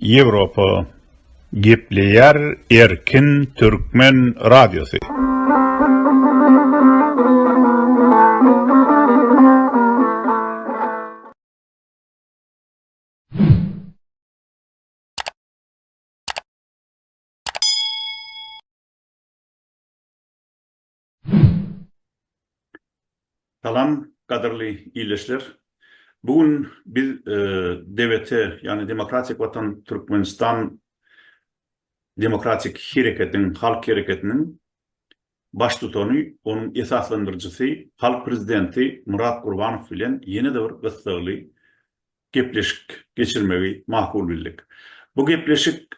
Ýewropa gepleýär erkin türkmen radiosy. Salam, gadyrly ildeşler! Bu gün biz DWT, ýagny Demokratik Watan Türkmenistan demokratik hereketiň, halk hereketiniň baştutany, onuň esaslandyryjysy, halk prezidenti Myrat Gurbanow bilen ýene-de bir gyssagly gepleşik geçirmegi makul bildik. Bu gepleşik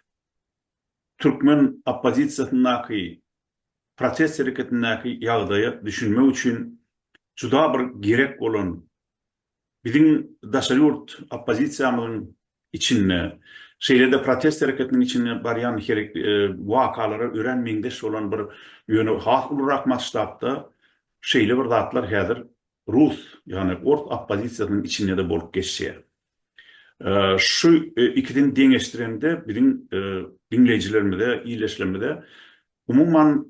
Türkmen oppozisiýasyndaky protest hereketindäki ýagdaýa düşünmek üçin juda bir gerek bolan biziň daşary ýurt oppozisiýamyzyň içinde, şeýle-de protest hereketiniň içinde barýan wakalara örän meňzeş bolan bir, ýöne has ulurak masştabda şeýle bir zatlar häzir rus, ýagny ors oppozisiýasynyň içinde-de bolup geçýär. Şu ikisini deňeşdirende biziň diňleýjilerimize, ildeşlerimize umuman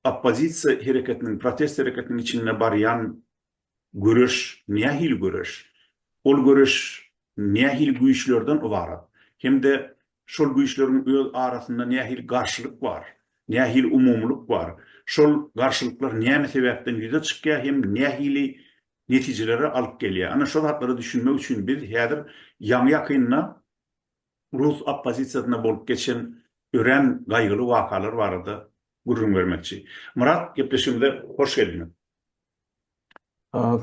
oppozisiýa hereketiniň, protest hereketiniň içinde barýan göreş nähili göreş, ol göreş nähili güýçlerden ybarat hem-de şol güýçleriň öz arasynda nähili garşylyk bar, nähili umumylyk bar, şol garşylyklar näme sebäpden ýüze çykýar hem nähili netijelere alyp gelýär. Ana şo zatlara düşünmek üçin biz häzir ýaňy ýakynda rus oppozisiýasynda bolup geçen örän gaýgyly wakalar barada gürrüň bermekçi. Myrat gepleşigimize hoş geldiňiz.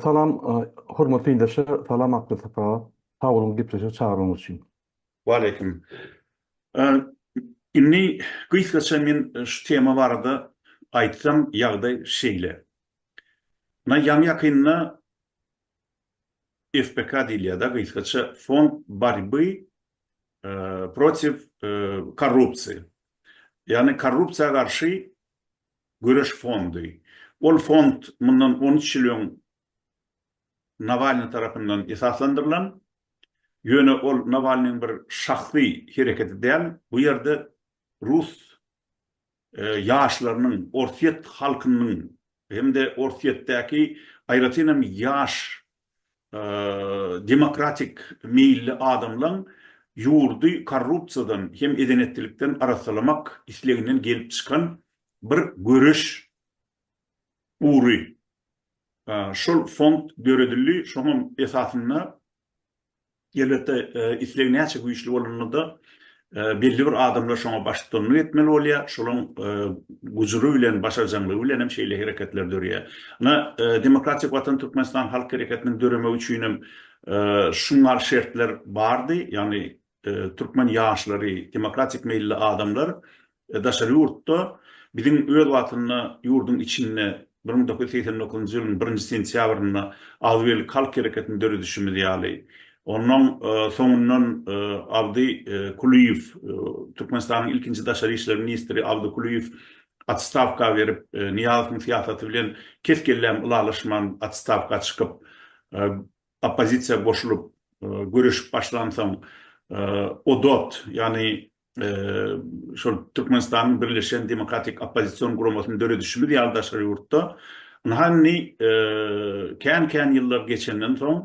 Salam hormatly ildeşler, salam Akbilsat aga. Sag boluň gepleşige çagyranyňyz üçin. Waleýkim. Indi gysgaça men şu tema barada aýtsam ýagdaý şeýle. Muňa ýaňy-ýakynda FBK diýilýär-de, gysgaça Fond borýby protiw korrupsiýa, ýagny korrupsiýa garşy göreş fondy. Ol fond mundan on üç ýyl öň Nawalnyý tarapyndan esaslandyrylan, ýöne ol Nawalnyýň bir şahsy hereketi däl, bu ýerde rus ýaşlarynyň, orsýet halkynyň hem-de Orsýetdäki aýratyn hem ýaş demokratik meýilli adamlaň ýurdy korrupsiýadan hem edenetdilikden arassalamak isleginden gelip çykan bir göreş ugry. Şol fond döredildi, şoňam esasynda Elbetde, isleg näçe güýçli bolanda-da, belli bir adamlar şoňa baştutanlyk etmeli bolýar, şolaryň gujry bilen, başarjaňlygy bilen hem şeýle hereketler döreýär. Ine, Demokratik Watan Türkmenistan halk hereketiniň döremegi üçin hem şunlar şertler bardy, ýagny türkmen ýaşlary, demokratik meýilli adamlar daşary ýurtda biziň öz wagtynda ýurduň içinde bir müň dokuz ýüz segsen dokuzynjy ýylyň birinji sentýabrynda Agzybirlik halk hereketini döredişimiz ýaly, onnoň soňundan Abdy Kulyýew, Türkmenistanyň ilkinji daşary işler ministri Abdy Kulyýew otstawka berip, Nyýazowyň syýasaty bilen kes-kelläm ylalaşman otstawka çykyp, oppozisiýa goşulyp göreşip başlansoň ODOT, ýagny şol Türkmenistanyň birleşen demokratik oppozision guramasyny döredişimiz ýaly daşary ýurtda ynha indi kän-kän ýyllar geçenden soň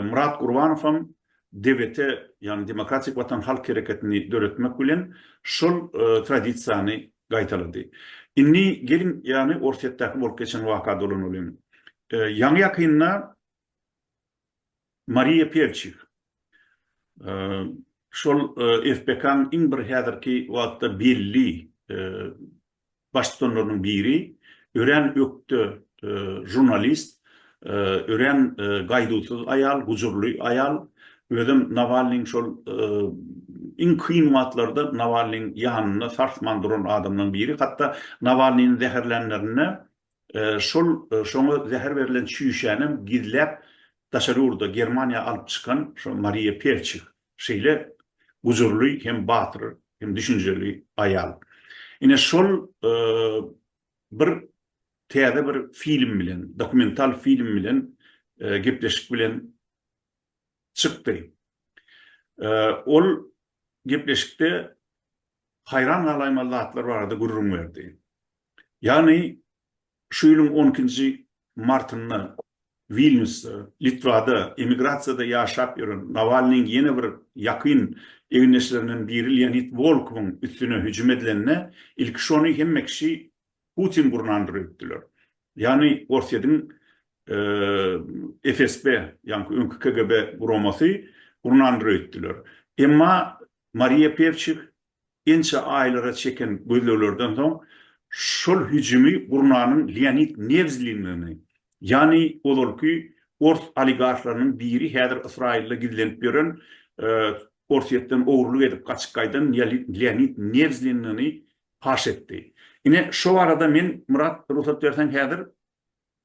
Murat Gurbanow hem DWT, ýagny Demokratik Watan halk hereketini döretmek bilen şol tradisiýany Gaýtalady. Indi geliň ýany Orsýetdäki bolup geçen waka dolanalyň. Ýaňy-ýakynda Mariýa Pewçik, şol FBK-nyň iň bir häzirki wagtda belli baştutanlarynyň biri, örän ökde žurnalist, Örän gaýduwsyz aýal, gujurly aýal. Özem Nawalnyň şol iň kyn wagtlarda Nawalnyň ýanynda sarsman duran adamlaryň biri. Hatda Nawalnyny zäherlänlerinde şol şoňa zäher berlen çüýşänem gizläp daşary ýurda, Germaniýa alyp çykan şo Mariýa Perçih. Şeýle gujurly hem batyr hem düşünjeli aýal. Ine şol Bir täze bir film bilen, dokumental film bilen gepleşik bilen çykdy. Ol gepleşikde haýran galaýmaly zatlar barada gürrüň berdi. Ýagny şu ýylyň on ikinji martynda Wilnýusda, Litwada emigrasiýada ýaşap ýören Nawalnyň ýene bir ýakyn egindeşlerinden biri Leonid Wolkowyň üstüne hüjüm edilende, ilki şony hemme kişi Putin gurnandyr öýtdüler. Ýagny Orsýetiň FSB, ýaňky öňki KGB guramasy gurnandyr öýtdüler. Emma Mariýa Pewçik Ençe aýlara çeken gözleglerden soň şol hüjümi gurnanyň Leonid Newzliniňi, ýany ozalky ors oligarhlarynyň biri häzir Ysraýylda gizlenip ýören Orsýetden ogurlyk edip gaçyp gaýdan Leonid Newzliniňi paş etdi. Ine şo barada men Myrat rugsat berseň häzir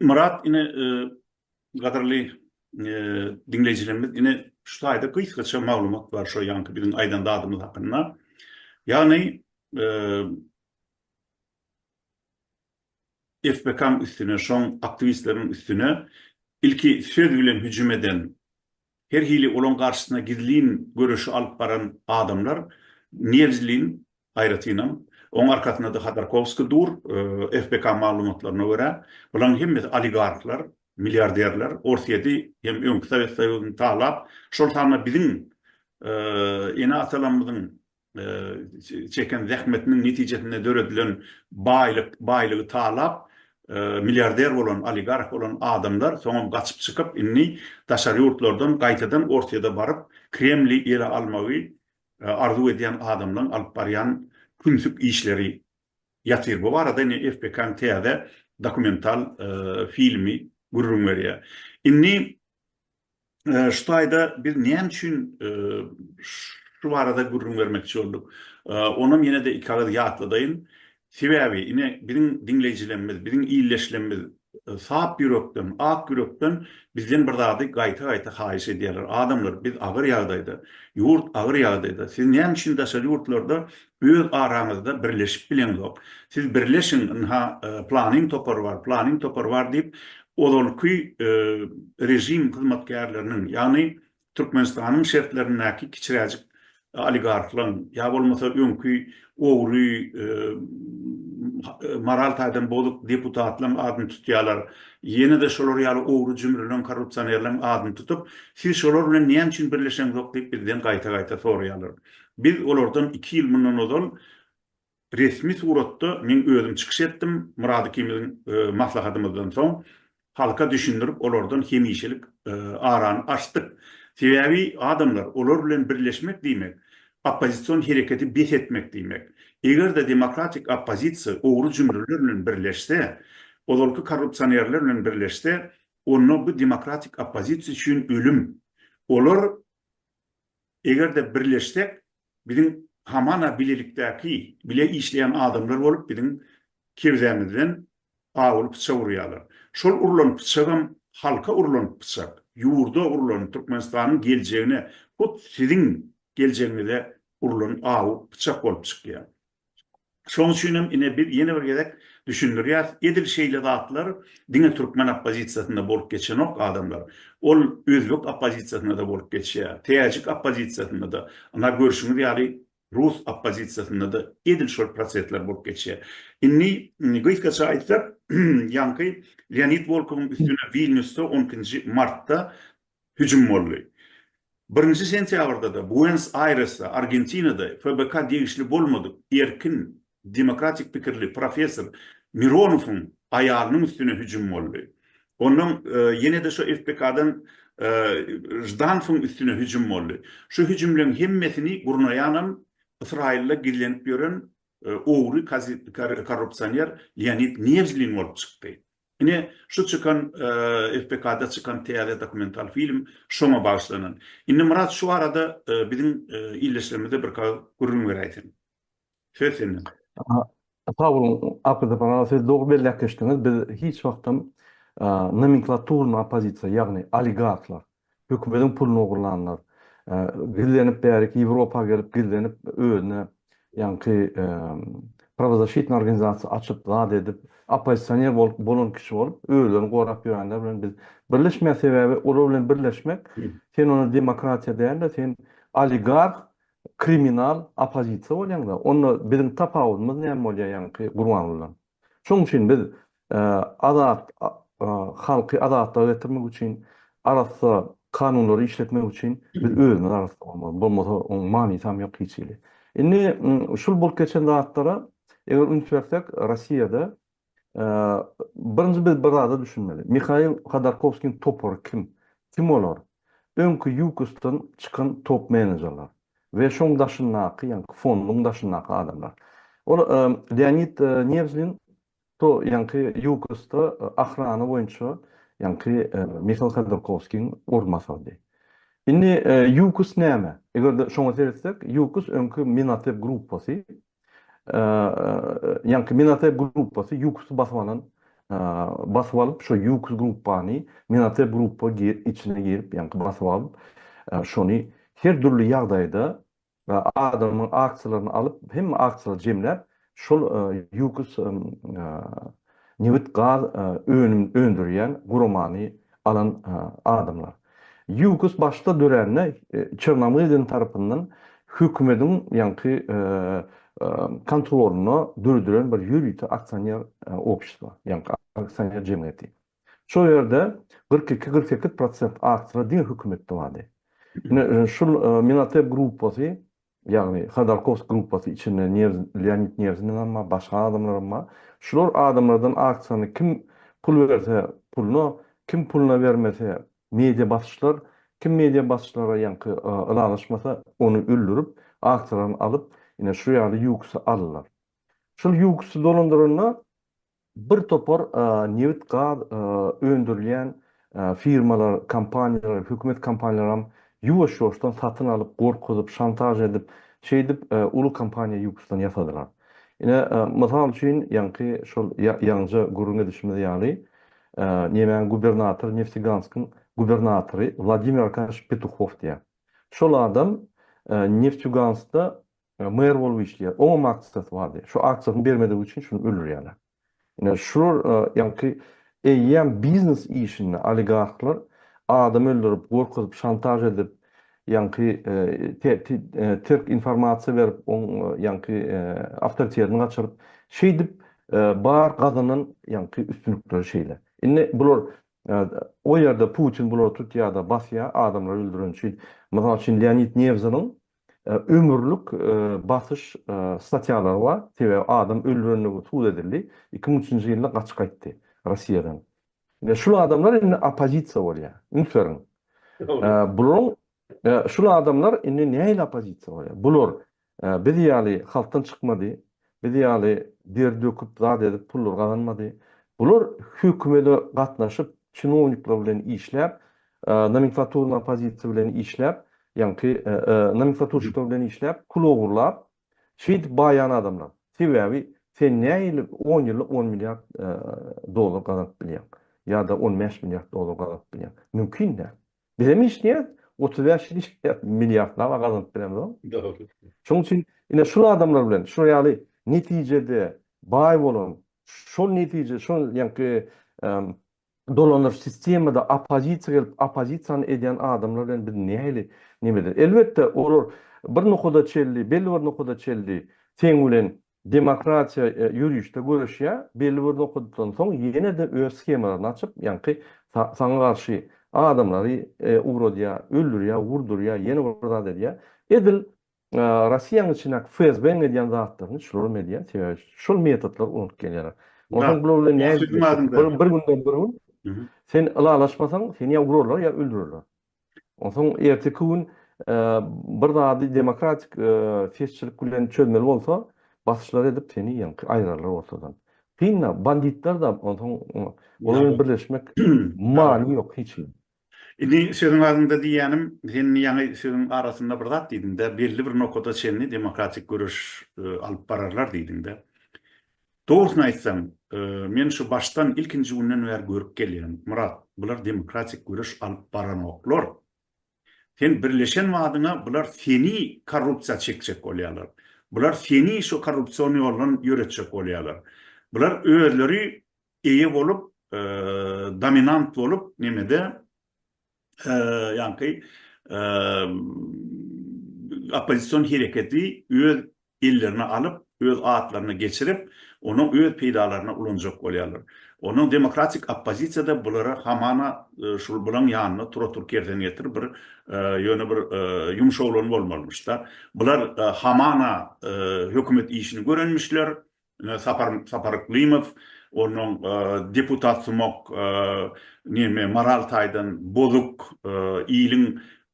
Myrat ine gadyrly diňleýjilerimiz ine şu taýda gysgaça maglumat bar şo ýanky biziň aýdan zadymyz hakynda. Ýagny FBK-nyň üstüne şoň aktiwistleriň üstüne ilki söz bilen hüjüm eden her hili olaň garşysyna gizlin göreşi alyp baran adamlar Nýezdlin, aýratynam, oň arkasynda-da Hodorkowskiý dur, FBK maglumatlaryna görä, bularyň hemmesi oligarhlar, milliarderler, Orsýedi hem öňki Sowet Soýuzyny talap, şol sanda biziň ene-atalarymyzyň çeken zähmetiniň netijesinde döredilen baýlyk, baýlygy talap, milliarder bolan, oligarh bolan adamlar soňam gaçyp çykyp, indi daşary ýurtlardan gaýtadan Orsýede baryp, Kremli ele almagy arzuw edýän adamlaryň alyp barýan kümsük işleri ýatyr. Bu barada indi FPK-nyň täze dokumental filmi gürrüň berýär. Indi Şu taýda biz näme üçin şu barada gürrüň bermekçi bolduk? Onam ýene-de iki agyz ýatladaýyn. Sebäbi ine biziň diňleýjilerimiz, biziň illeşlerimiz sap ýürekden, ak ýürekden bizden bir zady gaýta-gaýta haýyş edýärler. Adamlar, biz agyr ýagdaýda, ýurt agyr ýagdaýda. Siz näme üçin daşary ýurtlarda Öz araňyzda birleşip bileňzok. Siz birleşiň, ynha, planyň topary bar, planyň topary bar diýip, ozalky režim hyzmatkärleriniň, ýagny Türkmenistanyň şertlerindäki kiçiräjik oligarhlaň, ýa bolmasa öňki ogry, moral taýdan bozuk deputatlaň adyny tutýarlar. Ýene-de şolar ýaly ogry-jümrüleň, korrupsionerleň adyny tutup, siz şolar bilen näme üçin birleşeňzok diýip bizden gaýta-gaýta soraýarlar. Biz olardan iki ýyl mundan ozal resmi suratda men özüm çykyş etdim, Myrat ikimiziň maslahatymyzdan soň halka düşündirip, olardan hemişelik arany açdyk. Sebäbi adamlar, olar bilen birleşmek diýmek, oppozision hereketi bes etmek diýmek. Eger-de demokratik oppozisiýa ogry jümrüler bilen birleşse, ozalky korrupsionerler bilen birleşse, onda bu demokratik oppozisiýa üçin ölüm. Olar Eger-de birleşsek, biziň hamana bilelikdäki, bile işleýän adamlar bolup biziň kebzämizden gabyl pyçak urýarlar. Şol urlan pyçagam halka urlan pyçak, ýurda urlan, Türkmenistanyň geljegine, hut siziň geljegiňize urlan awy pyçak bolup çykýar. Şoň üçin hem ine biz ýene bir gezek düşündirýäs, edil şeýle zatlar diňe türkmen oppozisiýasynda bolup geçenok adamlar. Ol özbek oppozisiýasynda-da bolup geçýär, täjik oppozisiýasynda-da, ynha görşüňiz ýaly rus oppozisiýasynda-da edil şol prosesler bolup geçýär. Indi gysgaça aýtsak, ýaňky Leonid Wolkowyň üstüne Wilnýusda on ikinji martda hüjüm boldy. Birinji sentýabrda-da Buenos-Aýresde, Argentinada FBK degişli bolmadyk erkin, demokratik pikirli professor Mironowyň aýalynyň üstüne hüjüm boldy. Ondan ýene-de şo FBK-dan Ždanowyň üstüne hüjüm boldy. Şu hüjümleriň hemmesini gurnaýanam Ysraýylda gizlenip ýören ogry korrupsioner Leonid Newzlin bolup çykdy. Ine, şu çykan FPK-da çykan täze dokumental film şoňa bagyşlanan. Indi Myrat şu barada biziň ildeşlerimize birkagyz gürrüň beräýseň. Söz sende. Sag boluň, Arkadagym aga, siz dogry belläp geçdiňiz. Biz hiç wagtam nomenklaturyny oppozisiýa, ýagny oligarhlar, Hökümediň puluna ogurlanlar. Gizlenip bäriki Ýewropa gelip gizlenip özüne ýaňky Pravozaşitnyý organizasiýa açyp zat edip Oppozisioner bolup bolan kişi bolup özlerini gorap ýörenler bilen biz birleşmeýäs sebäbi olar bilen birleşmek sen onda demokratiýa dälde sen oligarh kriminal Oppozisiýa bolýaňda onda biziň tapawudymyz näme bolýa ýaňky Gurbangulydan. Şonuň üçin biz azat halky azatlyga getirmek üçin arassa kanunlary işletmek üçin biz özümiz arassa bolmaly. Bolmasa onuň manysam ýok hiç hili. Indi şul bolup geçen zatlara eger üns bersek Rossiýada birinji biz bir zada düşünmeli. Mihail Hodorkowskiň topary kim? Kim olar? Öňki Ýukostdan çykan top-menejerler. we şoň daşyndaky, ýaňky fonduň daşyndaky adamlar. Ol Leonid Newzlin to ýaňky Ýukosda ahrana boýunça ýaňky Mihail Khodorkowskiň orunbasarydy. Indi Ýukos näme? Eger-de şoňa seretsek, Ýukos öňki Minatep gruppasy, Ýaňky Minate gruppasy Ýuksy basyp alan, basyp alyp, şo Ýuks gruppany Minate gruppa içine girip, ýaňky basyp alyp, şony her dürli ýagdaýda adamyň aksiýalaryny alyp, hemme aksiýalary jemläp, şol Ýuks nebit-gaz önüm öndürýän guramany alan adamlar. Ýugus başda dörände Çernamyrdin tarapyndan hökümediň ýaňky kontrolynda döredilen bir ýörite aksioner obşestva, ýaňky aksioner jemgyýeti. Şol ýerde kyrk iki, kyrk sekiz prosent aktiýalar diňe hökümetde bardy. Ine, şul Minatep gruppasy Ýagny Hodorkowsk gruppasy içinde Nýerz Leonid Nýerziniňem bar, başga adamlaram bar. Şular adamlardan aksiýany kim pul berse puluna, kim puluna bermese media basyşlar, kim media basyşlara ýaňky ylalaşmasa ony öldürip, aksiýalaryny alyp ine şu ýaly ýuksy aldylar. Şol ýuksy dolandyranda Bir topar nebit-gaz öndürilýän firmalar, kompaniýalar, hökümet kompaniýalaram ýuwaş-ýuwaşdan satyn alyp, gorkuzyp, şantaž edip, şeýdip uly kompaniýa ýuwpusdan ýasadylar. Ine, mysal üçin, ýaňky şol ýaňja gürrüň edişimiz ýaly, nemäň gubernatory, Nefteganskyň gubernatory Wladimir Arkadýewiç Petuhow diýýär. Şol adam Nefteganskda Maýar bolup işleýär. Oňam akçysy bardy. Şu akçysyny bermedigi üçin şuny öldürýärler. Ine şular ýaňky eýýäm biznes işinde oligarhlar adam öldürip, gorkuzyp, şantaž edip, ýaňky terk informasiýa berip, oň ýaňky awtoritetini gaçyryp, şeýdip bar gazanan ýaňky üstünlikleri şeýle. Indi bular o ýerde Putin bulary tutýar-da basýar, adamlary öldüren üçin. Mysal üçin Leonid Newzynyň ömürlik basyş statýalary bar, sebäbi adam öldürendigi subut edildi, iki müň üçünji ýylda gaçyp gaýtdy Russiýadan. Şul adamlar indi oppozisiýa bolýar, üns beriň. Bularyň şul adamlar indi nähili oppozisiýa bolýar? Bular biz ýaly halkdan çykmady, Biz ýaly der döküp zat edip pullary gazanmady. Bular hökümede gatnaşyp çinownikler bilen işläp nomenklaturnyň opozisiýasy bilen işläp ýaňky nomenklaturşikler bilen işläp pul ogurlap şeýdip baýan adamlar. Sebäbi sen nähili on ýylda on milliard dollar gazanyp bilýäň ýa-da on bäş milliard dollar gazanyp bilýäň? Mümkin däl. Bizem işleýäs, otuz bäş ýyl işleýäs, milliardlap gazanyp bilemizok. Şonuň üçin ine şul adamlar bilen, şu ýaly netijede baý bolan, şol netije, şol ýaňky dolanyş sistemada oppozisiýa gelip, oppozisiýany edýän adamlar bilen biz nähili neme edeli? Elbetde, olar bir nokada çenli, belli bir nokada çenli seň bilen Demokratiýa ýörişde göreşýär, belli bir nokatdan soň ýene-de öz shemalaryny açyp, ýaňky saňa garşy adamlary ugradýar, öldürýär, urdurýar, ýene bir zat edýär. Edil Rossiýanyň içindäki FSB-niň edýän zatlaryny şularym edýär, sebäbi şol metotlary ulanyp gelýärler. Onsoň bular bilen nädip, bir günden bir gün sen ylalaşmasaň, seni ýa urarlar, ýa öldürerler. Onsoň erteki gün bir zady demokratik sesçilik bilen çözmeli bolsa, basyşlar edip seni ýaňky aýyrarlar ortadan. Kyn-da, banditler-de onsoň olar bilen birleşmek many ýok hiç hili. Indi sözüň agzynda diýýänim, sen ýaňy sözüň arasynda bir zat diýdiň-de, belli bir nokada çenli demokratik göreş alyp bararlar diýdiň-de. Dogrusyny aýtsam, men şu başdan ilkinji günden bäri görüp gelýän, Myrat, bular demokratik göreş alyp baranoklar. Sen birleşen badyňa bular seni korrupsiýa çekjek bolýarlar. Bular seni şu korrupsion ýoldan ýöretjek bolýarlar. Bular özleri eýe bolup, dominant bolup, nemede, ýaňky oppozision hereketi öz ellerine alyp, öz atlaryna geçirip, ony öz peýdalaryna ulanjak bolýarlar. Onuň demokratik oppozisiýa-da bulara hamana şul bulaň ýanyna tura-tur kersen getir bir ýöne bir ýumşaglan bolmalymyş-da. Bular hamana hökümet işini görenmişler, Sapar Saparyklymow onuň deputatsumak neme moral taýdan bozuk iliň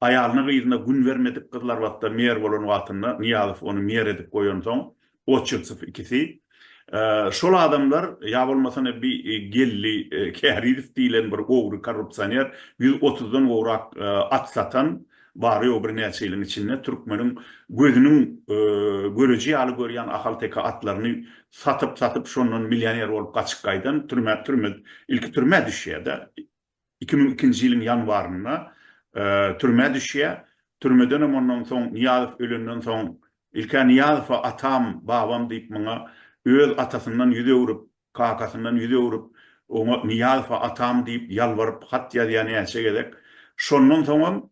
aýalyna-gyzyna gün bermedik gyzlar wagtda mer bolan wagtynda Nyýazow ony mer edip goýansoň Otçytsow ikisi şol adamlar ýa bolmasa ene bi Geldi Kärizow diýlen bir ogry korrupsioner ýüz otuzdan gowrak at satan Bary-ýogy birnäçe ýylyň içinde türkmeniň gözüniň göreji ýaly görýän ahalteke atlaryny satyp-satyp, şondan millioner bolup gaçyp gaýdan, türmä, türmä, ilki türmä düşýär-de, iki müň ikinji ýylyň ýanwarynda türmä düşýär. Türmedenem ondan soň, Nyýazow ölenden soň, ilk-ä Nyýazowa atam, babam diýip, muňa öz atasyndan ýüz öwrüp, Kakasyndan ýüz öwrüp, oňa Nyýazowa atam diýip ýalbaryp hat ýazýar näçe gezek. Şondan soňam,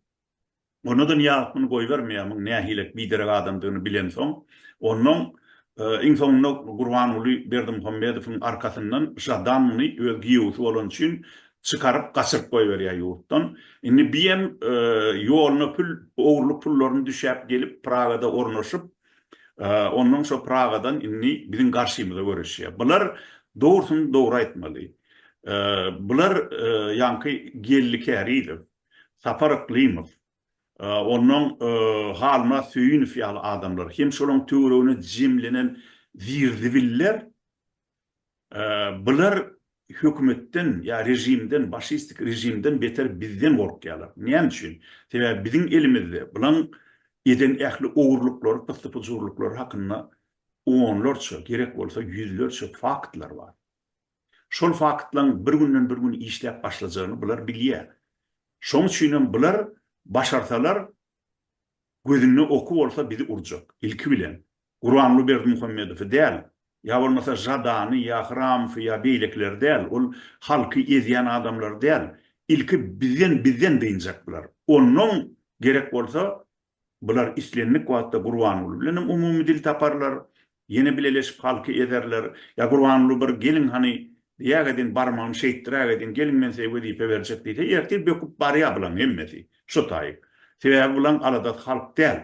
ony-da Nyýazow muny goýbermeýär, muň nähilek biderek adamdygyny bilensoň. Onnoň, iň soňunda Gurbanguly Berdimuhamedowyň arkasyndan Žadan muny öz giýewisi bolany üçin çykaryp, gaçyryp goýberýär ýurtdan. Indi biem ýoluna pül, ogurlyk pullaryny düşäp gelip, Pragada ornaşyp, Onnoň şo Pragadan indi biziň garşymyza göreşýär. Bular dogrusyny dogry aýtmaly. Bular ýaňky Geldi Kärizow, Sapar Yklymow, onnoň Halmyrat Söýünow ýaly adamlar hem şolaryň töweregine jemlenen zir-zibiller Bular hökümetden ýa režimden, başistik režimden beter bizden gorkýarlar. Näme üçin? Sebäbi biziň elimizde bulaň eden ähli ogurlyklary, pyssy-pyjurlyklary hakynda onlarça, gerek bolsa ýüzlerçe faktlar bar. Şol faktlaň bir günden bir gün işläp başlajagyny bular bilýär. Şoň üçinem bular başarsalar Gözünde oky bolsa bizi urjak. Ilki bilen Guranguly Berdimuhamedowy däl, ýa bolmasa Žadany ýa Hramowy ýa beýlekileri däl, ol halky ezýän adamlary däl. Ilki bizden bizden dynjak bular. Onnoň gerek bolsa bular islendik wagtda Gurbanguly bilenem umumy dil taparlar, Ýene bileleşip halky ezerler. Ýa Gurbanguly bir geliň hany diýäg edin barmagyny şeýtdiräg edin geliň men size wezipe berjek diýse ertir böküp barýa bulaň hemmesi şo taýyp. Sebäbi bulaň aladasy halk däl.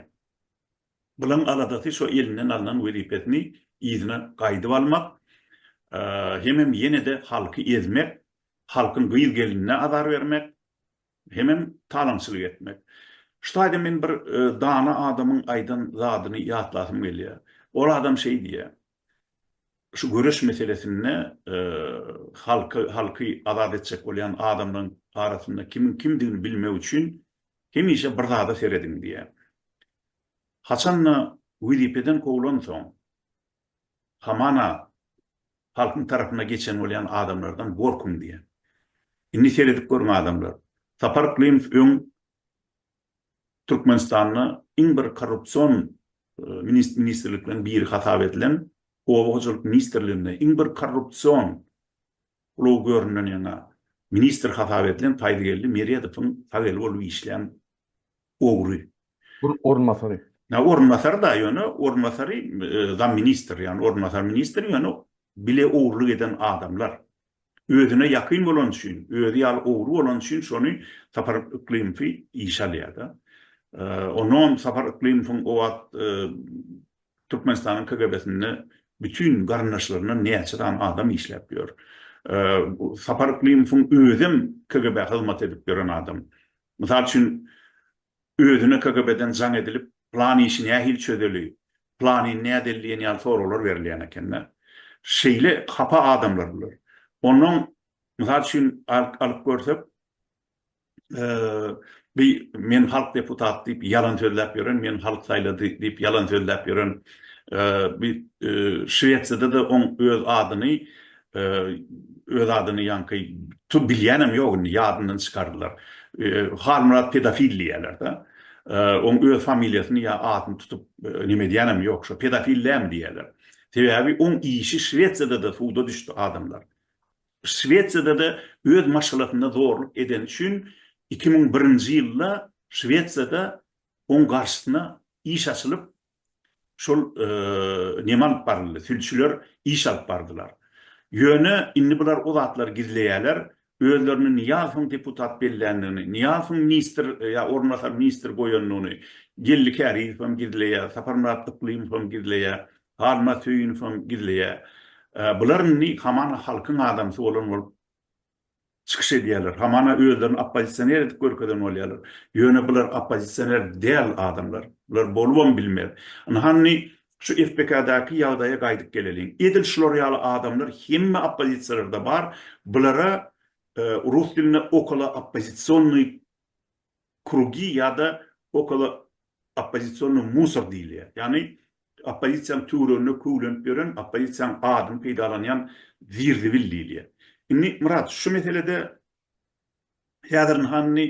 Bulaň aladasy şo elinden alnan wezipesini yzyna gaýdyp almak hemem ýenede halky ezmek halkyň gyz gelinine azar bermek Hemem talaňçylyk etmek. Şu taýda men bir dana adamyň aýdan zadyny ýatlasym gelýär. Ol adam şeý diýýär, Şu göreş meselesinde halky, halky azat etjek bolýan adamlaryň arasynda kimiň kimdigini bilmek üçin hemişe bir zada serediň diýýär. Haçan-da wezipeden kowlansoň, hamana halkyň tarapyna geçen bolýan adamlardan gorkuň diýýän. Indi seredip görüň adamlar, Sapar Klimow öň Türkmenistanda iň bir korrupsion ministrlikleriň biri hasap edilen Oba hojalyk ministrliginde iň bir korrupsion ulag göründen ýaňa ministr hasap edilen Faýzgeldi Meredowyň sag eli bolup işlän ogry. Ol orunbasary. Ýa orunbasary da ýöne orunbasary zamministr ýagny orunbasary ministr ýöne bile ogurlyk eden adamlar. Özüne ýakyn bolany üçin özi ýaly ogry bolany üçin şony Sapar Yklymowy işe alýar da. Onam Sapar Yklymowyň o wagt Türkmenistanyň KGB-sinde bütin garyndaşlaryndan näçe sany adam işläp ýör. Sapar Yklymowyň özem KGB-a hyzmat edip ýören adam. Mysal üçin, özüne KGB-den jaň edilip, plan işi nähili çözeli, planyny nädel diýen ýaly soraglar berilýän eken-de. Şeýle hapa adamlar bular. Onnoň, mysal üçin, alyp görsek, bi meni halk deputat diýip ýalan sözläp ýören, meni halk saýlady diýip ýalan sözläp ýören, bi Şwesiýada-da oň öz adyny Öz adyny ýaňky tu bilýänem ýok indi ýadyndan çykardylar. Halmyrat pedofil diýýäler-de. Oň öz familiýasyny ýa adyny tutup neme edýänem ýok. Şo pedofil dämi diýýäler. Sebäbi oň işi Şwesiýada-da suda düşdi adamlar. Şwesiýada-da öz maşgalasynda zorluk edeni üçin iki müň birinji ýylda Şwesiýada oň garşysyna iş açylyp Şol neme alyp baryldy? Sülçüler iş alyp bardylar. Ýöne indi bular o zatlary gizleýärler. Özlerini Nyýazowyň deputat belländigini, Nyýazowyň ministr ýa orunbasar ministr goýandygyny Geldi Kärizowam gizleýär, Saparmyrat Yklymowam gizleýär, Halmyrat Söýünowam gizleýär. Bular indi hamana halkyň adamsy bolan bolup çykyş edýärler, hamana özlerini oppozisioner edip görkezen bolýarlar. Ýöne bular oppozisioner däl adamlar. Bular bolubam bilmez. Ynha-nni şu FPK-daky ýagdaýa gaýdyp geleliň. Edil şular ýaly adamlar hemme oppozisiýalarda bar. Bulara rus dilinde okolooppozisionnyý krugi ýa-da okolo oppozisionnyý musor diýilýär. Ýagny oppozisiýanyň töwereginde köwlenip ýören, oppozisiýanyň adyny peýdalanýan zir-zibil diýilýär. Indi Myrat, şu meselede häzir ynha indi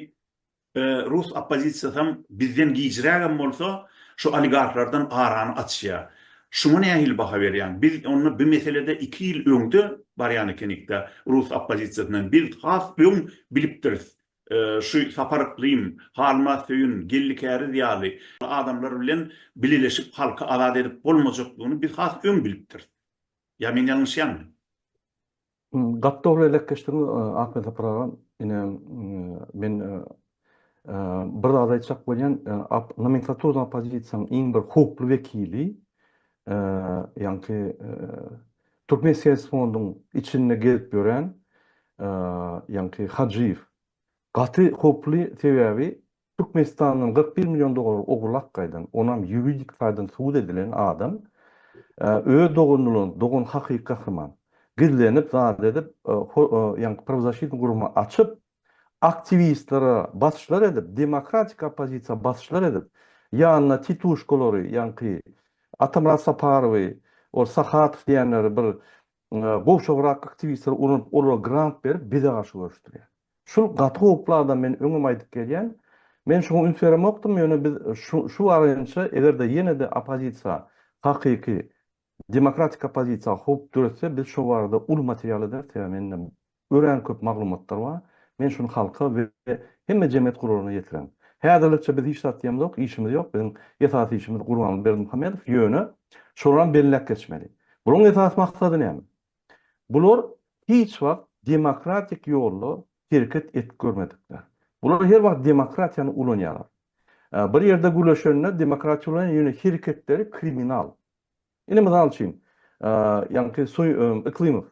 rus oppozisiýasam bizden gijrägem bolsa, şu oligarhlardan arany açýar. Şuňa nähili baha berýäň? Biz onda bu meselede iki ýyl öňde barýan ekenik-dä rus oppozisiýasyndan. Biz has öň bilipdiris. Şu Sapar Yklym, Halmaz Söýün, Geldi Käriz ýaly adamlar bilen bileleşip halky azat edip bolmajakdygyny biz has öň bilipdiris. Ýa men ýalňyşýanmy? Gaty dogry elekgeçdiň Ahmet Sapar aga. Ine men bir zat aýtjak bolýan, nomenklaturnyň oppozisiýanyň iň bir howply wekili ýaňky türkmen syýasy fonduň içinde gezip ýören ýaňky Hajyýew gaty howply sebäbi Türkmenistandan kyrk bir million dollar ogurlap gaýdan, onam ýuridik taýdan subut edilen adam öz doganynyň, dogan hakyky gahryman, gizlenip zat edip ýaňky prawzasýetni gurama açyp, aktiwistlere basyşlar edip, demokratik oppozisiýa basyşlar edip, ýanyna tituşkalary, ýaňky Atamyrat Saparowy, ol Sahatow diýenleri bir gowşagrak aktiwistleri ulanyp, olara grant berip, bize garşy göreşdirýär. Şul gaty howply adam, men öňem aýdyp gelýän. Men şuňa üns beremokdym, ýöne biz şu şu barynyça, eger-de ýene-de oppozisiýa hakyky Demokratik oppozisiýa howp döretse biz şo barada uly material ederis sebäbi mende örän köp maglumatlar bar. Men şuny halka we hemme jemgyýet guralaryna ýetiren. Häzirlikçe biz hiç zat diýemzok, işimiz ýok. Biziň esasy işimiz Gurbanguly Berdimuhamedow, ýöne şolaram belläp geçmeli. Bularyň esasy maksady näme? Bular hiç wagt demokratik ýolda hereket edip görmedikler. Bular her wagt demokratiýany ulanýarlar. Bir ýerde güleşende demokratiýa ulanýar, ýöne hereketleri kriminal. Indi mysal üçin, ýaňky Suý Yklymow.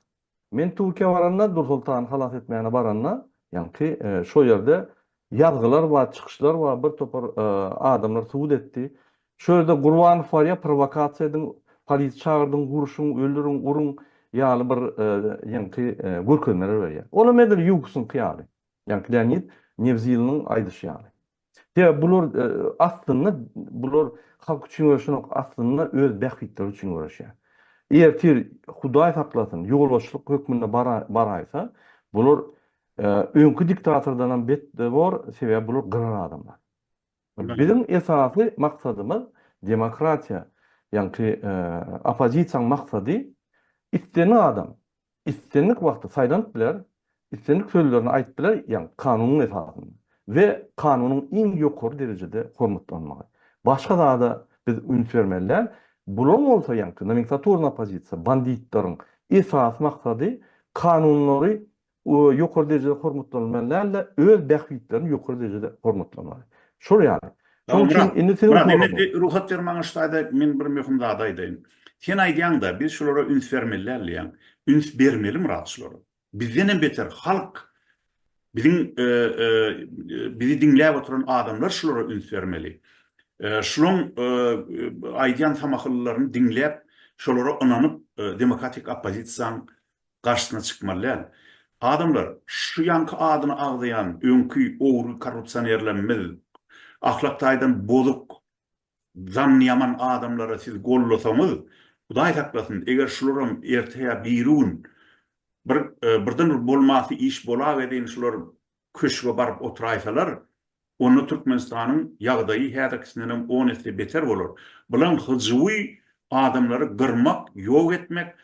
Men Türkiýä baranda, Dursoltany halas etmäne baranda, ýaňky şo ýerde ýazgylar bar, çykyşlar bar, bir topar adamlar subut etdi. Şo ýerde Gurbanow bar ýa prowokasiýa ediň, polisiýa çagyrdyň, urşuň, öldüriň, uruň ýaly bir ýaňky görkezmeler berýär. Olam edil Ýugusyňky ýaly. Ýaňky Leonid Newziliniň aýdyşy ýaly. Sebäbi bular aslynda bular halk üçin göreşenok, aslynda öz bähbitleri üçin göreşýär. Ertir Hudaý saklasyn, ýolbaşçylyk hökmünde baraýsa, bular öňki diktatordanam betde bor, sebäbi bular gyrar adamlar. Biziň esasy maksadymyz demokratiýa, ýaňky oppozisiýaň maksady islenen adam, islendik wagtda saýlanyp biler, islendik sözlerini aýdyp biler, ýagny kanunyň esasynda we kanunyň iň ýokary derejede hormatlanmagy. Başga zada biz üns bermeli däl. Bulaň bolsa ýaňky nomenklaturny oppozisiýa, banditlaryň esasy maksady kanunlary ýokary derejede hormatlanylmaly däl-de, öz bähbitlerini ýokary derejede hormatlanmaly. Şol ýaly, Şoň üçin indi seniň soragyň. Myrat, indi rugsat ber maňa şu taýda men bir möhüm zady aýdaýyn. Sen aýdýaň-da, biz şulara üns bermeli däl diýýäň. Üns bermeli Myrat şulara. Bizdenem beter halk, biziň bizi diňläp oturan adamlar şulara üns bermeli. Şulaň aýdýan samahyllylaryny diňläp, şolara ynanyp demokratik oppozisiýaň garşysyna çykmaly däl. Adamlar şu ýanky adyny agzaýan öňki ogry korrupsionerlerimiz ahlak taýdan bozuk zany ýaman adamlary siz gollasaňyz Hudaý saklasyn eger şularam erte ýa biri gün bir birden bir bolmasy iş bolagedeýin şular köşge baryp oturaýsalar, onda Türkmenistanyň ýagdaýy häzirkisindenem on esse beter bolar. Bulan hyjuwy adamlary gyrmak, ýok etmek,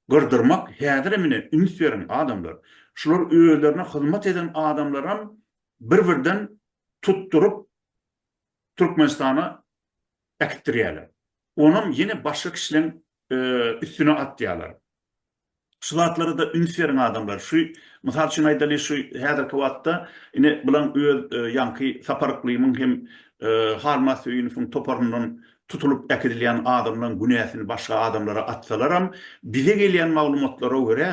gyrdyrmak häzirem ine üns beriň adamlar. Şular özlerine hyzmat eden adamlaram bir birden tutduryp Türkmenistana äkitdirýäler. Onam ýene başga kişileň üstüne atýalar. Şu zatlara-da üns beriň adamlar. Şu, mysal üçin aýdaly, şu häzirki wagtda ine bulan öz ýaňky Sapar Yklymyň hem Halmaz Söýünowyň toparyndan tutulyp äkidilýän adamlaň günäsini başga adamlara atsalaram, bize gelýän maglumatlara görä,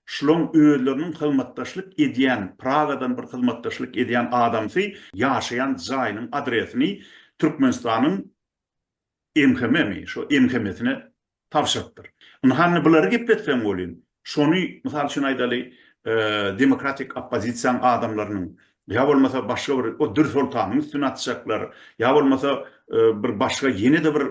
şulaň özleriniň hyzmatdaşlyk edýän, Pragadan bir hyzmatdaşlyk edýän adamsy ýaşaýan jaýynyň adresini Türkmenistanyň MHM-mi, şo MHM-sine tabşyrypdyr. Indi hany bulary gepletsem welin, şony, mysal üçin aýdaly, demokratik oppozisiýaň adamlarynyň ýa bolmasa başga bir o Dürsoltanyň üstüne atjaklar, ýa bolmasa bir başga ýene-de bir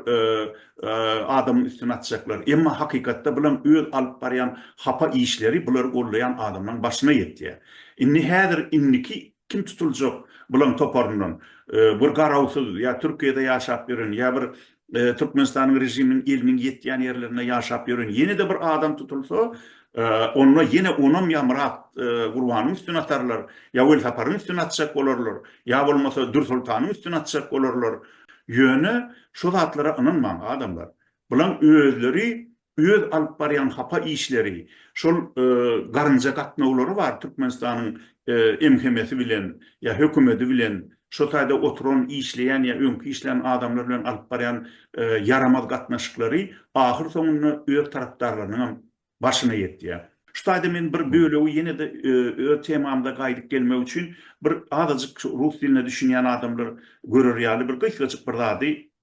adamyň üstüne atjaklar. Emma hakykatda bulam öz alyp barýan hapa işleri bulary goldaýan adamlaryň başyna ýetýär. Indi häzir indiki Kim tutuljak bulaň toparyndan? Bir garawsyz ýa Türkiýede ýaşap ýören, ýa bir Türkmenistanyň režiminiň eliniň ýetýän ýerlerinde ýaşap ýören ýene-de bir adam tutulsa, onda ýene onam ýa Myrat Gurbanyň üstüne atarlar, ýa Welsaparyň üstüne atjak bolarlar, ýa bolmasa Dürsoltanyň üstüne atjak bolarlar. Ýöne şu zatlara ynanmaň adamlar. Bulaň özleri öz alyp barýan hapa işleri, şol garynja gatnawlary bar Türkmenistanyň MHM-si bilen ýa hökümedi bilen, şo taýda oturan, işleýän ýa öňki işlän adamlar bilen alyp barýan ýaramaz gatnaşyklary ahyr soňunda öz tarapdarlarynyň hem başyna ýetýär. Şu taýda men bir bölegi ýene-de öz temamda gaýdyp gelmek üçin bir azajyk rus diline düşünýän adamlar görer ýaly bir gysgajyk bir zady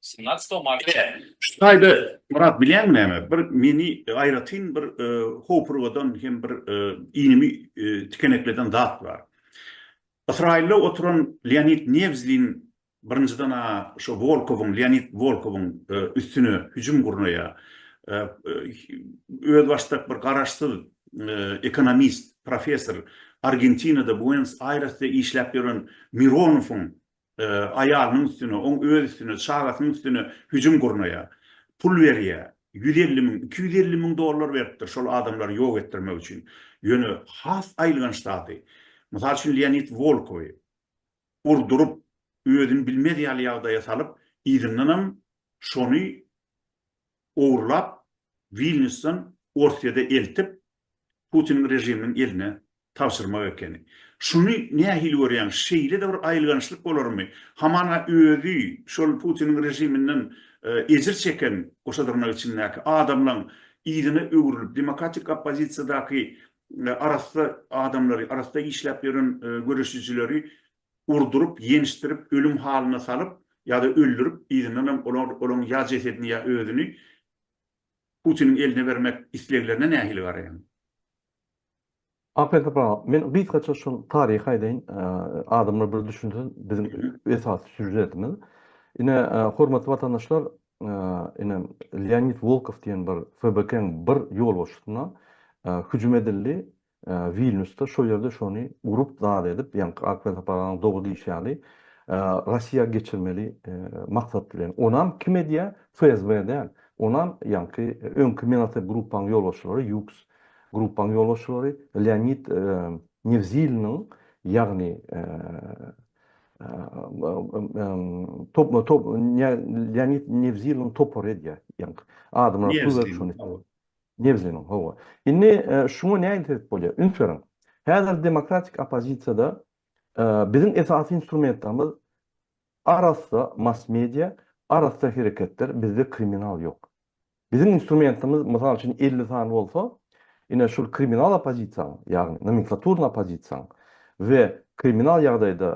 Synagstow Mart. Ine, şu taýda, Myrat, bilýäňmi näme, bir meni aýratyn bir hopurgadan hem bir iýnimi tikenekleden zat bar. Ysraýylda oturan Leonid Newzlin birinjiden-ä şo Wolkowyň, Leonid Wolkowyň üstüne hüjüm gurnaýar. Özbaşdak bir garaşsyz ekonomist, professor, Argentinada, Buenos-Aýresde işläp ýören Mironowyň aýalynyň üstüne, oň öz üstüne, çagasynyň üstüne hüjüm gurnaýar. Pul berýär. Ýüz elli müň, iki ýüz elli müň dollar beripdir şol adamlary ýok etdirmek üçin. Ýöne has aýylganç zady, mysal üçin Leonid Wolkowy urduryp, özüni bilmez ýaly ýagdaýa salyp, yzyndanam şony ogurlap, Wilnýusdan Orsyýada eltip, Putiniň režiminiň eline tabşyrmak ekeni. Şuny nähili görýäň? Şeýle-de bir aýylgançlyk bolarmy? Hamana özi şol Putiniň režiminden ejir çeken, goşa dyrnak içindäki, adamlaň yzyna öwrülip, demokratik oppozisiýadaky arassa adamlary, arassa işläp ýören göreşijileri urduryp, ýençdirip, ölüm halyna salyp ýa-da öldürip, yzyndanam olar olaň ýa jesedini ýa özüni Putiniň eline bermek isleglerine nähili garaýaň? Aperta Pawla, men gysgaça şol taryhy aýdaýyn, adamlar bir düşünsin, biziň esasy sýužetimiz. Ine, hormatly watandaşlar, ine, Leonid Wolkow diýen bir FBK-nyň bir ýolbaşçysyna hüjüm edildi, Wilnýusda şo ýerde şony gurup zat edip, ýaňky ak welsapalaryň dogy diýşi ýaly, Rossiýa geçirmeli maksat bilen. Onam kim edýär? FSB däl. Onam ýaňky öňki Menatep Gruppaň ýolbaşçylary, Ýuks Gruppaň ýolbaşçylary, Leonid Newziliniň, ýagny Leonid Newziliniň topary edýär. Ýaňky adamlar pul berip şony. Nebziniň, hawa. Indi şuňa nädip sebäp bolýar? Üns beriň. Häzir demokratik oppozisiýada biziň esasy instrumentamyz arassa mass-media, arassa hereketler, bizde kriminal ýok. Biziň instrumentamyz, mysal üçin, elli sany bolsa, ine şul kriminal oppozisiýanyň, ýagny nomenklaturny oppozisiýanyň we kriminal ýagdaýda,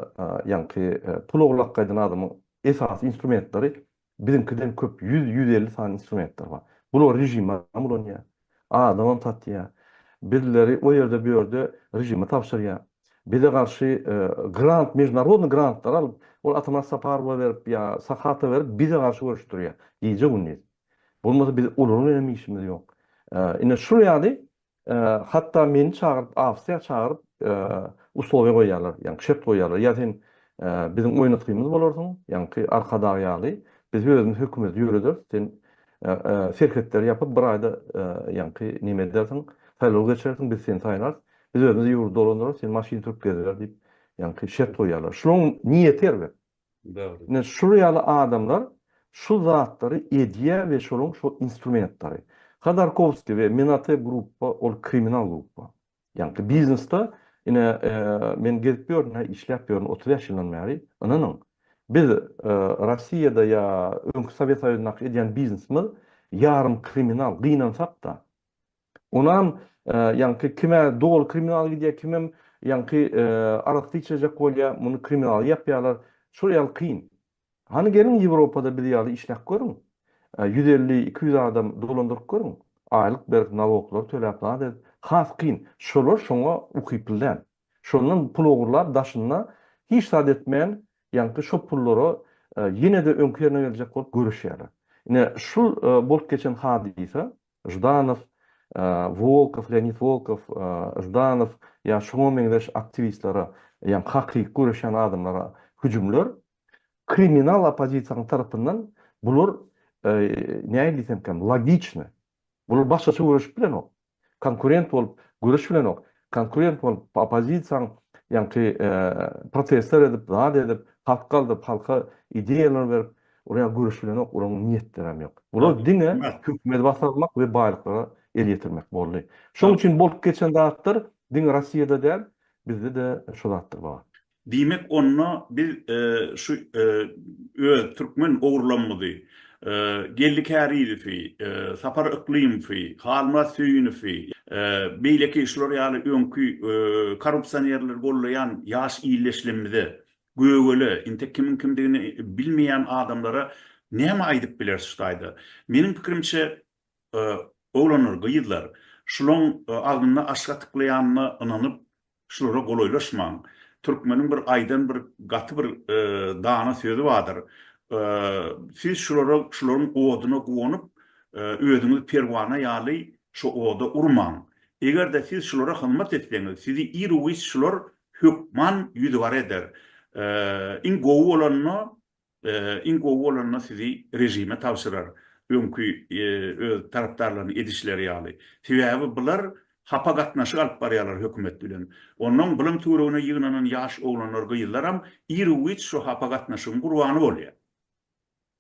ýaňky pul oglap gaýdan adamyň esasy instrumentleri Biziňkiden köp ýüz, ýüz elli sany instrumentler bar. Bulary režimem ulanýar. Adamam satýar. Bizleri o ýerde, bu ýerde režime tabşyrýar. Bize garşy grant, mežnarodnyý grantlary alyp, ol Atamyrat Saparowa berip ýa Sahata berip bize garşy görüşdirýär. Gije-gündiz. Bolmasa biz olar bilenem işimiz ýok. Ine şul ýaly Hatda meni çagyryp, Awstriýa çagyryp, uslowiýa goýýarlar, ýagny şert goýýarlar, ýa sen biziň oýnatgymyz bolarsyň, ýaňky Arkadag ýaly, biz özümiz hökümeti ýörederis, sen serhetleri ýapyp, bir aýda ýaňky näme edersiň, saýlaw geçirersiň, biz seni saýlarys, biz özümiz ýurdy dolandyrarys, sen maşyn sürüp geziber diýip, ýaňky şert goýýarlar. Şunuň niýeti erbet. Ine şul ýaly adamlar şul zatlary edýär we şoluň şol instrumentleri. Hodorkowskiý we Menate grupba ol kriminal grupba. Ýaňky biznesde ine men gezip ýörün hä işläp ýörün otuz bäş ýyldan bäri. Ynanyň biz Rossiýada ýa öňki Sowet Soýuzyndaky edýän biznesimiz ýarym kriminal gynansakda Onam ýaňky kime doly kriminal gidýär, kimem ýaňky arasty içejek bolýar, muny kriminal ýapýarlar. Şol ýaly kyn. Hany geliň Ýewropada biz ýaly işläp görüň. Ýüz elli, iki ýüz adam dolandyryp görüň. Aýlyk berip, naloglary töläp zat edip. Has kyn. Şolar şoňa ukyply däl. Şondan pul ogurlap daşynda hiç zat etmän, ýaňky şo pullara ýene-de öňki ýerine geljek bolup göreşýärler. Ine, şul bolup geçen hadysa, Ždanow, Wolkow, Leonid Wolkow, Ždanow ýa şuňa meňzeş aktiwistlere, ýa hakyky göreşýän adamlara hüjümler kriminal oppozisiýanyň tarapyndan bular nähili diýsemkäm logiçny. Bular başgaça göreşip bilenok. Konkurent bolup göreşip bilenok. konkurent bolup oppozisiýaň ýaňky protestler edip zat edip hat galdyryp halka ideýalar berip urýan göreş bilenok olaryň niýetlerem ýok. Bular diňe hökümeti basarmak we baýlyklara el ýetirmek boldy. Şoň üçin bolup geçen zatlar diňe Rossiýada däl bizde-de şu zatlar bar. Diýmek onda biz şu öz türkmen ogurlamyzy, Geldi Kärizowy, Sapar Yklymowy, Halmyrat Söýünowy, beýleki şular ýaly öňki korrupsionerleri gollaýan ýaş illeşlimize, gögele, intek kimiň kimdigini bilmeýän adamlara näme aýdyp bileris şu taýda? Meniň pikirimçe Oglanlar, gyzlar, şulaň agzyna aşyk atyklaýanyna ynanyp, şulara golaýlaşmaň. Türkmeniň bir aýdan bir gaty bir dana sözi bardyr. Siz şulara, şularyň oduna guwanyp, özüňizi perwana ýaly şo oda urmaň. Eger-de siz şulara hyzmat etseňiz, sizi ir-u-giç şular hökman ýüzügara eder. Iň gowy bolanda, Iň gowy bolanda sizi režime tabşyrar öňki öz tarapdarlarynyň edişleri ýaly. Sebäbi bular hapa gatnaşyk alyp barýarlar hökümet bilen. Onnoň bilim töweregine ýygnanan ýaş oglanlar gyzlaram ir u giç şo hapa gatnaşygyň gurbany bolýar.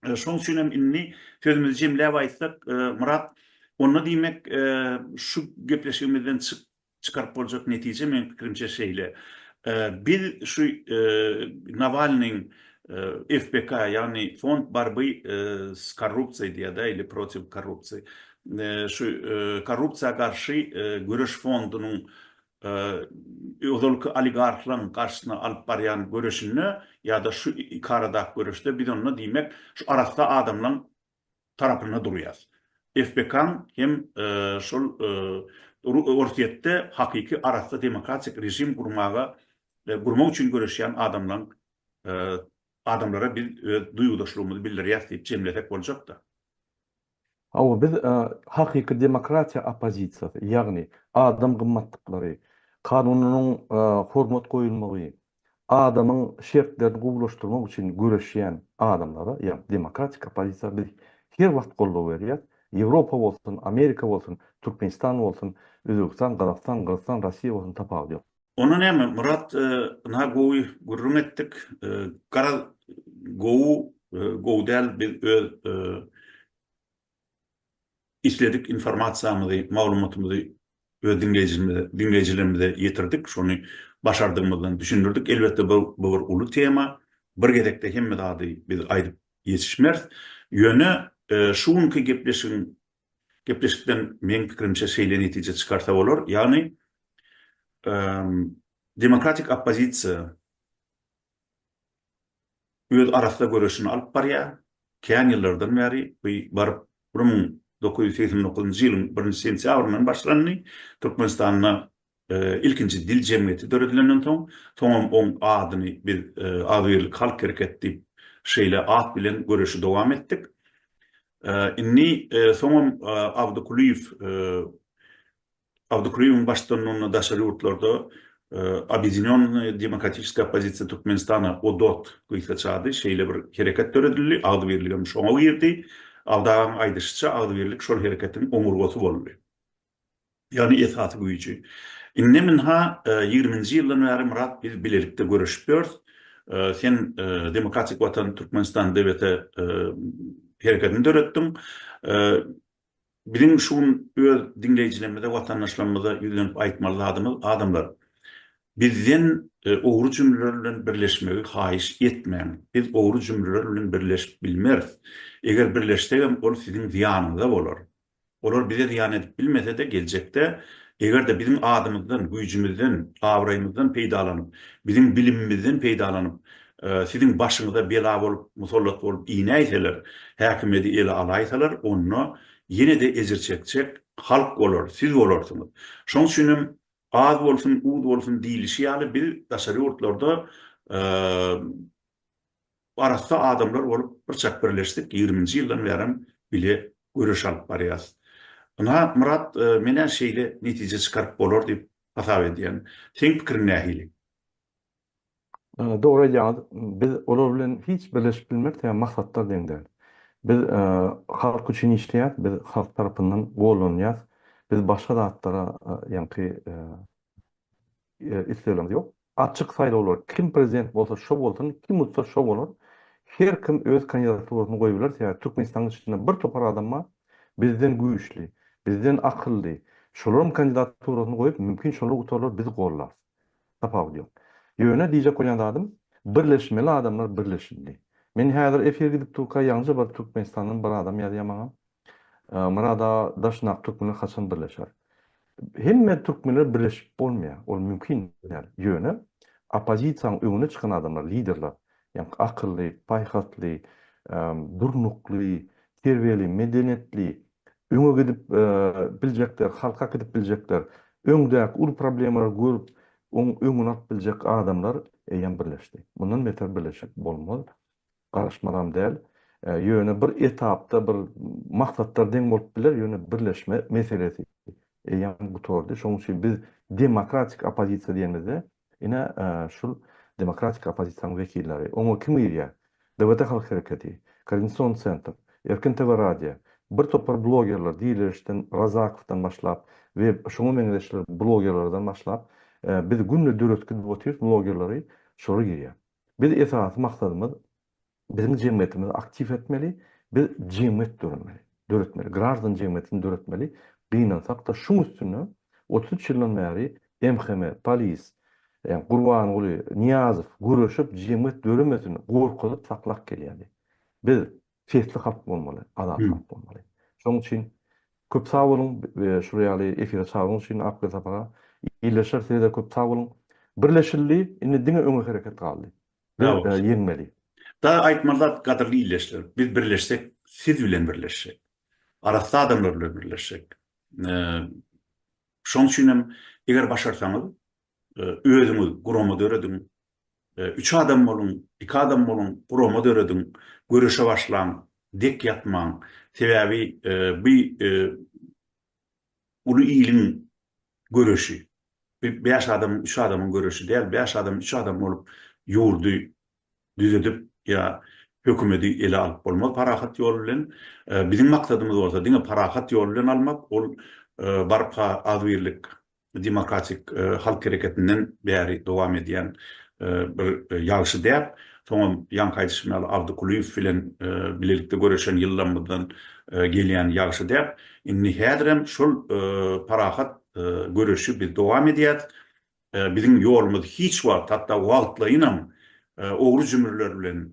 Şoň üçin hem indi sözümizi jemläp aýtsak Myrat onda diýmek şu gepleşigimizden çyk Çykaryp boljak netije meň pikirimçe şeýle, biz şu Nawalnyň FBK ýagny Fond barby s korrupsiýa diýýada ili protiv korrupsiýa şu korrupsiýa garşy göreş fondunyň ozalky oligarhlaň garşysyna alyp barýan göreşinde ýa-da şu iki aradaky göreşde biz onda diýmek şu arassa adamlaň tarapynda durýas. FPK-nyň hem şol Orsýetde hakyky arassa demokratik režim gurmaga gurmak üçin göreşýän adamlaň adamlara biz öz duýgudaşlygymyzy bildirýäs diýip jemlesek boljak-da. Hawa, biz hakyky demokratiýa oppozisiýasy, ýagny adam gymmatlyklary, kanunynyň hormat goýulmagy, adamyň şertlerini gowulaşdyrmak üçin göreşýän adamlara, ýagny demokratik oppozisiýa biz her wagt goldaw berýäs. Ýewropa bolsun, Amerika bolsun, Türkmenistan bolsun, Özbegistan, Gazagystan, Gyrgyzystan, Rossiýa bolsun tapawudy ýok. Onda näme, Myrat, ynha gowy gürrüň etdik. Garaz, gowy, gowy däl biz öz isledik informasiýamyzy, maglumatymyzy öz diňleýjimize, diňleýjilerimize ýetirdik, şony başardygymyzdan düşündirdik. Elbetde, bu, bu bir uly tema. Bir gezekde hemme zady biz aýdyp ýetişmeris. Ýöne, şu günki gepleşigiň, gepleşikden meň pikirimçe şeýle netije çykarsa bolar, ýagny, demokratik oppozisiýa öz arassa göreşini alyp barýar. Kän ýyllardan bäri, bu baryp bir müň dokuz ýüz segsen dokuzynjy ýylyň birinji sentýabryndan başlandy. Türkmenistanda ilkinji dil jemgyýeti döredilenden soň, soňam oň adyny biz Agzybirlik halk hereketi diýip, şeýle at bilen göreşi dowam etdik. Indi soňam Abdy Kulyýew Awdokryýewiň baştutanlygynda daşary ýurtlarda Obýedinýonnaýa demokratiçeskaýa oppozisiýa Türkmenistana, ODOT, gysga çady, şeýle bir hereket döredildi, agzybirlik hem şoňa girdi. Awdagaň aýdyşyça, agzybirlik şol hereketiň oňurgasy boldy. Ýagny esasy güýji. Indi minha ýigriminji ýyldan bäri Myrat biz bilelikde göreşip ýörüs. Sen Demokratik watan Türkmenistan DWT hereketini döretdiň. Biziň şu gün öz diňleýjilerimize, watandaşlarymyza ýüzlenip aýtmaly zadymyz, adamlar, bizden ogry jümleler bilen birleşmegi haýyş etmäň. Biz ogry jümleler bilen birleşip bilmeris. Eger birleşsegem, ol siziň zyýanyňyza bolar. Olar bize zyýan edip bilmese-de, geljekde, eger-de biziň adymyzdan, güýjümizden, abraýymyzdan peýdalanyp, biziň bilimimizden peýdalanyp, Siziň başyňyza bela bolup, musallat bolup inäýseler, häkimiýeti ele alaýsalar, onda ýene-de ejir çekjek halk bolar, siz bolarsyňyz. Şoň üçin hem az bolsun, uz bolsun diýlişi ýaly, biz daşary ýurtlarda arassa adamlar bolup birçak birleşdik, ýigriminji ýyldan bärem bile göreş alyp barýarys. Ynha, Myrat, men-ä şeýle netije çykaryp bolar diýip hasap edýän. Seň pikiriň nähili? Dogry aýdýaňyz, biz olar bilen hiç birleşip bilmeris, sebäbi maksatlar deň däl. Biz halk üçin işleýäs, biz halk tarapyndan gollanylýas, biz başga zatlara ýaňky isleglerimiz ýok. Açyk saýlawlar, kim prezident bolsa şo bolsun, kim utsa şo bolar. Her kim öz kandidaturasyny goýup biler, sebäbi Türkmenistanyň içinde bir topar adam bar, bizden güýçli, bizden akylly, şolaryň kandidaturasyny goýup, mümkin şolar utarlar, biz gollarys. Tapawudy ýok. Ýöne diýjek bolýan zadym, birleşmeli adamlar birleşildi. Men häzir efir gidip durka ýaňja bir Türkmenistandan bir adam ýazýar maňa. Murad aga daş nak türkmenler haçan birleşer? Hemme türkmenler birleşip bolmaýar. Ol mümkin däl. Ýöne oppozisiýanyň öňüne çykan adamlar, liderler, ýa akylly, paýhasly, durnukly, terbiýeli, medeniýetli, öňe gidip biljekler, halka gidip biljekler, öňdäki uly problemalary görüp, oň öňüni alyp biljek adamlar eýýäm birleşdi. Mundan beter birleşik bolmaz, garyşmazam däl. Ýöne bir etapda bir maksatlar deň bolup biler, ýöne birleşme meselesi eýýäm gutardy. Şonuň üçin biz demokratik oppozisiýa diýenimizde, Ine, şul demokratik oppozisiýanyň wekilleri. Oňa kim girýär? DWT Halk Hereketi, Koordinasion Sentr, Erkin TV Radia, bir topar blogerler diýilişden Razakowdan başlap we şuňa meňzeşler blogerlerden başlap, biz günde döretgidip otyrys blogerleri, şolar girýär. Biz esasy maksadymyz Biziň jemgyýetimizi aktiw etmeli, biz jemgyýet döretmeli, döretmeli, graždan jemgyýetini döretmeli, gynansak-da şuň üstünde otuz üç ýyldan bäri MHM, polis, ýa Gurbanguly, Nyýazow göreşip jemgyýet döremesin gorkuzyp saklap gelýärdi. Biz sesli halk bolmaly, azat halk bolmaly. Şoň üçin köp sag boluň şul ýaly efire çagyryň üçin Akgöz Sapara ildeşler size-de köp sag boluň. Birleşildi, indi diňe öňe hereket galdy. Birde ýeňmeli. Daha aýtmaly zat gadyrly illeşler biz birleşsek siz bilen birleşsek arassa adamlar bilen birleşsek şoň üçin hem eger başarsaňyz özüňiz gurama dörediň üç adam boluň iki adam boluň gurama dörediň göreşe başlaň dek ýatmaň sebäbi bu uly iliň göreşi, bir bäş adamyň, üç adamyň göreşi däl, bäş adam, üç adam bolup ýurdy düzedip ýa hökümedi ele alyp bolmaz parahat ýol bilen. Biziň maksadymyz bolsa diňe parahat ýol bilen almak, ol barka agzybirlik demokratik halk hereketinden bäri dowam edýän bir ýagşy däp. Soňam ýaňky aýdyşym ýaly Abdy Kulyýew bilen bilelikde göreşen ýyllarymyzdan gelýän ýagşy däp. Indi häzirem şol parahat göreşi biz dowam edýäs. Biziň ýolumyz hiç wagt, hatda wagtlaýynam ogry-jümürler bilen,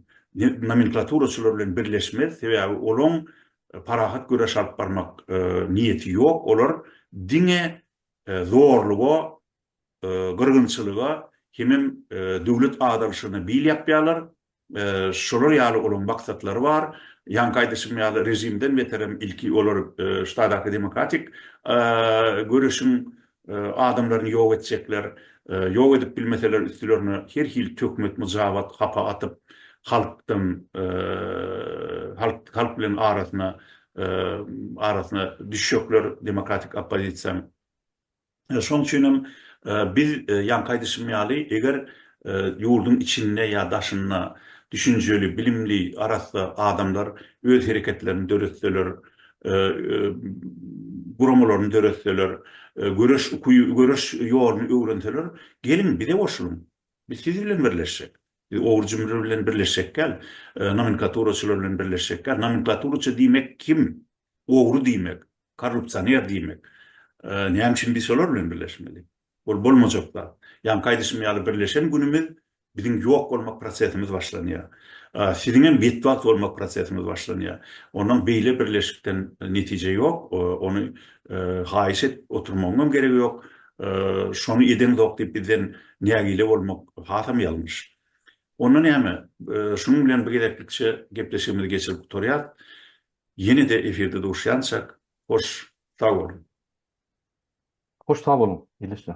nomenklaturaçylar bilen birleşmez. Sebäbi olaň parahat göreş alyp barmak niýeti ýok, olar diňe zorluga, gyrgynçylyga hemem döwlet azalyşygyna bil ýapýarlar, şolar ýaly olaryň maksatlary bar, ýaňky aýdyşym ýaly režimden beterem ilki olar ştadaki demokratik göreşiň adamlaryny ýok etjekler, ýok edip bilmeseler üstülerine her hili töhmet myjabat hapa atyp halkdan halk bilen arasyna arasyna düşjekler demokratik oppozisiýanyň. Şoň üçin hem biz ýaňky aýdyşym ýaly eger Ýurduň içinde ýa daşynda düşünjeli, bilimli, arassa adamlar öz hereketlerini döretseler, guramalaryny döretseler, göreş ukyby, göreş ýoluny öwrenseler, geliň, bize goşulyň. Biz siz bilen birleşjek. Biz ogur-jümri bilen birleşjek däl, nomenklaturaçylar bilen birleşjek däl. Nomenklaturaçy diýmek kim? Ogry diýmek, korrupsioner diýmek. Näme üçin biz şolar bilen birleşmeli? Ol bolmajak zat. Ýaňky aýdyşym ýaly birleşen günümiz biziň ýok bolmak prosesimiz başlanýar. Siziňem betbagt bolmak prosesimiz başlanýar. Ondan beýle birleşikden netije ýok. Ony haýyş edip oturmagyňam geregi ýok. Şony edeňzok diýip bizden nägile bolmak hasam ýalňyş. Onda näme? Şunuň bilen bu gezeklikçe gepleşigimizi geçirip gutarýas. Ýene-de efirde duşýançak, hoş sag boluň. Hoş sag boluň il işler.